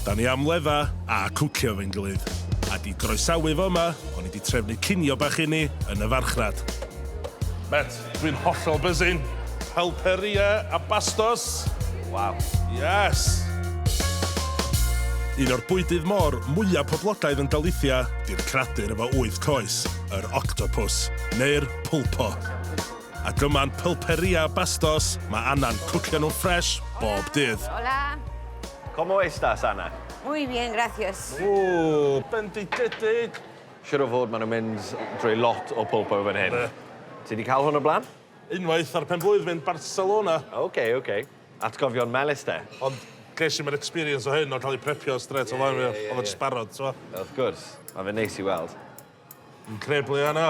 Da ni am ledda a cwcio efo'n gilydd. A di groesawu fo yma, o'n i di trefnu cinio bach i ni yn y farchnad. Met, dwi'n hollol buzzing. Pulperia a bastos. Waw. Yes! Un o'r bwydydd môr mwya poblogaidd yn Galicia di'r cradur efo wyth coes, yr octopws, neu'r pulpo. a dyma'n pulperi a bastos, mae Anna'n cwcio nhw ffresh bob dydd. Hola! Como estas, Anna? Muy bien, gracias. Ww, benditedig! Siŵr o fod maen nhw'n mynd drwy lot o pulpo fan hyn. Ti wedi cael hwn o blaen? Unwaith ar pen-blwydd fy yn Barcelona. Ok, ok. Atgofion melys de? Ond ges i'm yr experience o hyn o cael ei prepio strêt o flaen fi, oedd o jyst barod, t'mo'? Wrth gwrs. Mae fe'n neis i weld. Increble, Anna.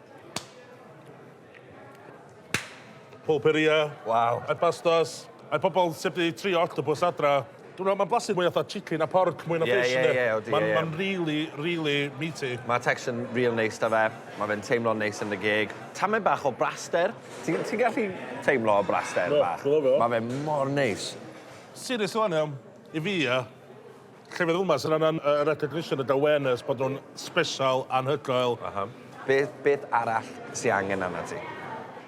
Pulperia. Waw. A'r pastas. A'r pobol sy 'di trio octopus adra. Dwi me'wl ma'n blasu mwy fatha chicken na porc mwy na fish yndi? Ie ie ie odi ie ie. Ma'n ma'n rili rili meaty. Ma'r texture yn ril neis 'da fe. Ma' fe'n teimlo'n neis yn dy geg. Tamed bach o braster. Ti ti'n gallu teimlo y braster bach? Do, dwi lyfio fo. Ma' fe mor neis. Serious ŵan iawn, i fi ia, Llefydd fel 'ma sy'n angan y recognition y da wen ers bod nhw'n sbesial, anhygoel. Aha. Beth, beth arall sy angen arnat ti?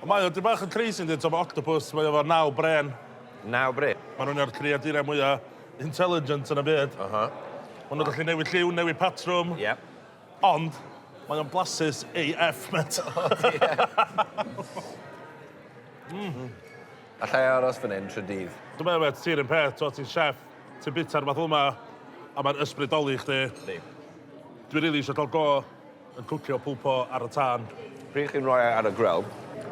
Ond mae o dipyn bach yn crazy yndi, t'o' ma' octopus, mae o efo naw brên. Naw brên? Ma' nhw'n un o'r creaduriau mwya intelligent yn y byd. Aha. Ma' nhw'n gallu newid lliw, newid patrwm. Ie. Ond, mae o'n blasus AF, mêt. O diar. Mm. Alla i aros fan 'yn trw dydd? Dw 'n meddwl mêt, ti 'r un peth, t'o' ti'n chef. Ti'n bwyta'r math yma a mae'n ysbrydoli chdi. Yndi. Dwi rili isio cael go yn cwcio pulpo ar y tân. Pryd chi'n rhoi e ar y grill,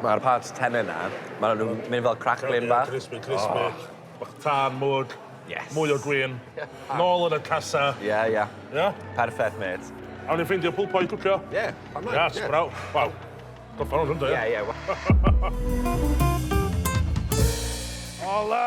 mae'r parts tenne 'na, maen nhw'n mynd fel cracklin bach. Crispy, crispy. Oh. Bach tân, mwg. Yes. Mwy o gwin. Nôl yn y casa. Ie, yeah, ie. Yeah. Ie? Yeah? Perffaith, mate. Awn ni ffeindio pulpo i cwcio? Ie, yeah, pan mae'n. Yes, yeah. braw. Waw. Gorffan hwn, rwy'n dweud. Ie, ie. Ola!